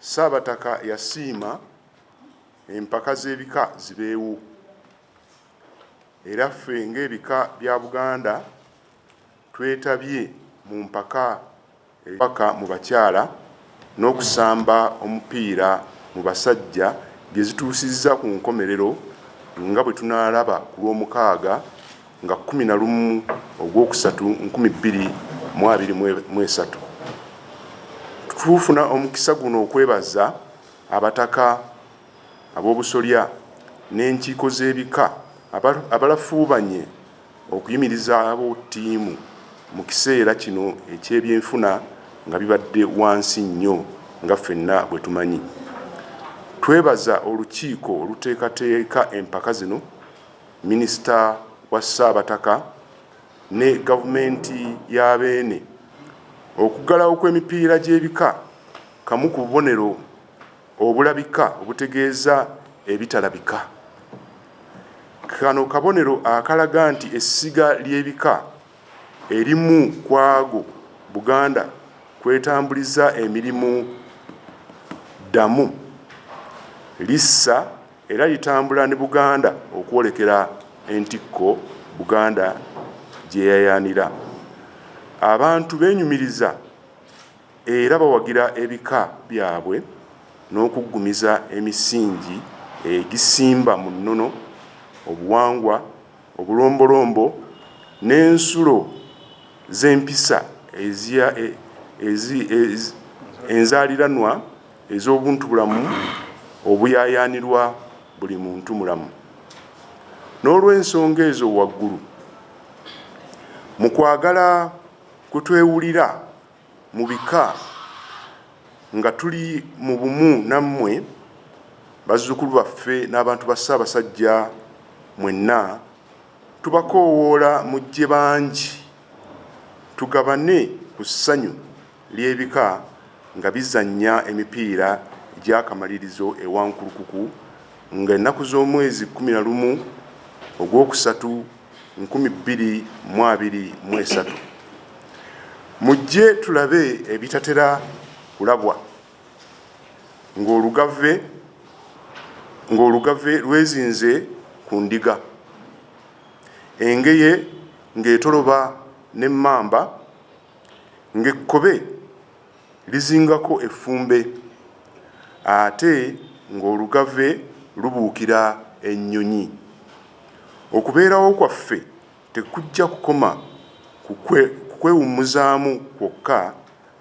Ssaabataka yasiima empaka z'ebika zibeewo era ffe ng'ebika bya Buganda twetabye mu mpaka ez'obubaka mu bakyala n'okusamba omupiira mu basajja bye zituusizza ku nkomerero nga bwe tunaalaba ku Lwomukaaga. nga kkumi na lumu ogwokusatu nkumi bbiri mu abiri mu esatu tufuna omukisa guno okwebaza abataka ab'obusolya n'enkiiko z'ebika abalafuubanye okuyimirizaawo ttiimu mu kiseera kino eky'ebyenfuna nga bibadde wansi nnyo nga ffenna bwe tumanyi twebaza olukiiko oluteekateeka empaka zino Minisita wa Ssaabataka ne Gavumenti ya Beene. Okuggalawo kw'emipiira gy'ebika kamu ku bubonero obulabika obutegeeza ebitalabika. Kano kabonero akalaga nti essiga ly'ebika erimu ku ago Buganda kw'etambuliza emirimu. Ddamu, lissa Era litambula ne Buganda okwolekera entikko Buganda gye yayaanira. Abantu beenyumiriza era bawagira ebika byabwe n'okuggumiza emisingi egisimba mu nnono, obuwangwa, obulombolombo n'ensulo z'empisa enzaaliranwa ez'obuntubulamu obuyaayaanirwa buli muntumulamu. N'olw'ensonga ezo waggulu, mu kwagala kwe twewulira mu bika nga tuli mu bumu nammwe, bazzukulu baffe n'abantu ba Ssaabasajja mwenna, tubakoowoola mujje bangi tugabane ku ssanyu. ly'ebika nga bizannya emipiira gy'akamalirizo e Wankulukuku nga ennaku z'omwezi kkumi na lumu ogw'okusatu nkumi bbiri mu abiri mu esatu. Mujje tulabe ebitatera kulabwa ng'olugave ng'olugave lwezinze ku ndiga, engeye ng'etoloba n'emmamba, ng'ekkobe lizingako effumbe ate ng'olugave lubuukira ennyonyi. Okubeerawo kwaffe tekujja kukoma ku kwewummuzaamu kwokka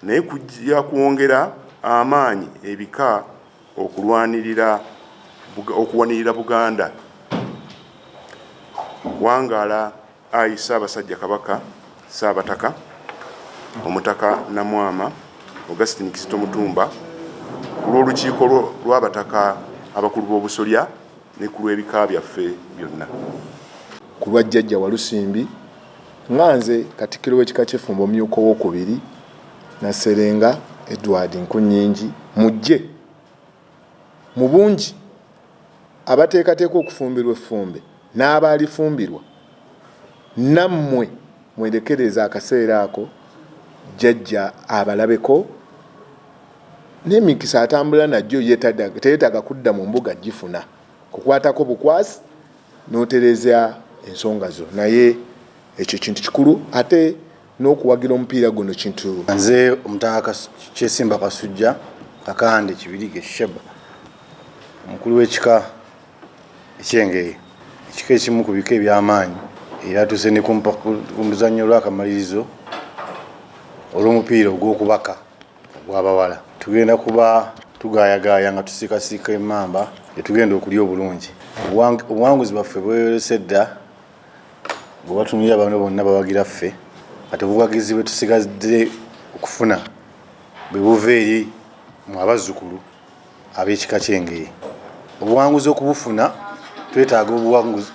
naye kujja kwongera amaanyi ebika okulwanirira okuwanirira Buganda. Wangaala Ayi Ssaabasajja Kabaka, Ssaabataka Omutaka Namwama Augustine Kizito Mutumba, ku lw'Olukiiko lw'Abataka Abakulu b'Obusolya ne ku lw'Ebika byaffe byonna. Ku lwa Jjajja Walusimbi, nga nze Katikkiro w'Ekika ky'Effumba Omumyuka Owookubiri, Nasserenga Edward Nkunnyingi, mujje mu bungi abateekateeka okufumbirwa effumbe n'abaalifumbirwa, nammwe mwerekereeze akaseera ako Jjajja abalabeko n'emikisa atambula nagyo teyetaaga kudda mu mbuga kugifuna. Nkukwatako bukwasi n'otereeza ensonga zo naye ekyo kintu kikulu ate n'okuwagira omupiira guno kintu. Nze Omutaka Kyesimba Kasujja Kakande Kibirige Sheba omukulu w'ekika eky'Engeye, ekika ekimu ku bika eby'amaanyi era tuuse ne ku muzannyo olw'akamalirizo olw'omupiira ogw'okubaka ogw'abawala. Tugenda kuba tugaayagaaya nga tusiikasiika emmamba gye tugenda okulya obulungi. Obuwanguzi bwaffe bweyolese dda bwebatunulira bano bonna bawagira ffe ate buwagizi bwetusigadde okufuna bwebuva eri mu abazzukulu ab'ekika ky'engeye obuwanguzi okubufuna twetaaga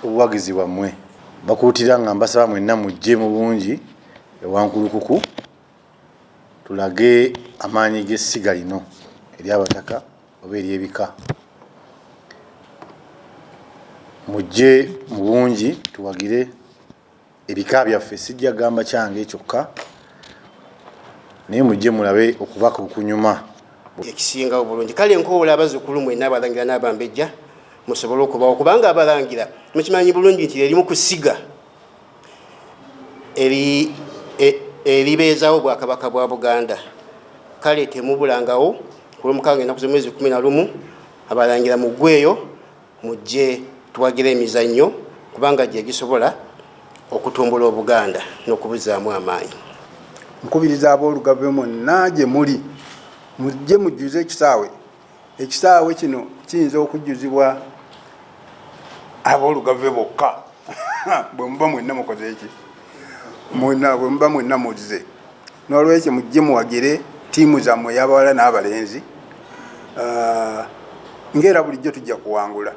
obuwagizi bwammwe bakuutira nga mbasaba mwenna mujje mu bungi ewankulukuku Tulage amaanyi g'essiga lino eri abataka oba eri ebika. Mujje mu bungi tuwagire ebika byaffe, sijja gamba kyange kyokka naye mujje mulabe okubaka okunyuma. ekisinga obulungi kale nkoola abazukulu mwena abalangira n'abambejja musobole okubawo kubanga abalangira mukimanyi bulungi nti lyelimu ku ssiga eribeezaawo obwakabaka bwa buganda kale temubulangawo ku lwomukaaga ennaku z'omwezi kumi na lumu abalangira mu ggweeyo mujje tuwagira emizannyo kubanga gye gisobola okutumbula obuganda n'okubuzaamu amaanyi nkubiriza ab'olugave monna gye muli mujje mujjuze ekisaawe ekisaawe kino kiyinza okujjuzibwa abolugave bokka bwemuba mwenna mukoze eki bwemuba mwenna muzze n'olwekyo mujje muwagire tiimu zammwe eyabawala n'abalenzi ah, ngaera bulijjo tujja kuwangula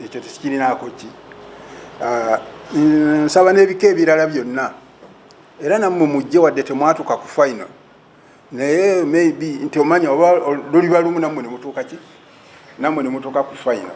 ekyo tekirinaako ki ah, nsaba n'ebika ebirala byonna era nammwe mujje wadde temwatuka ku final naye maybe nti omanya oba luliba lumu namwe nemutuuka ki namwe nemutuuka ku final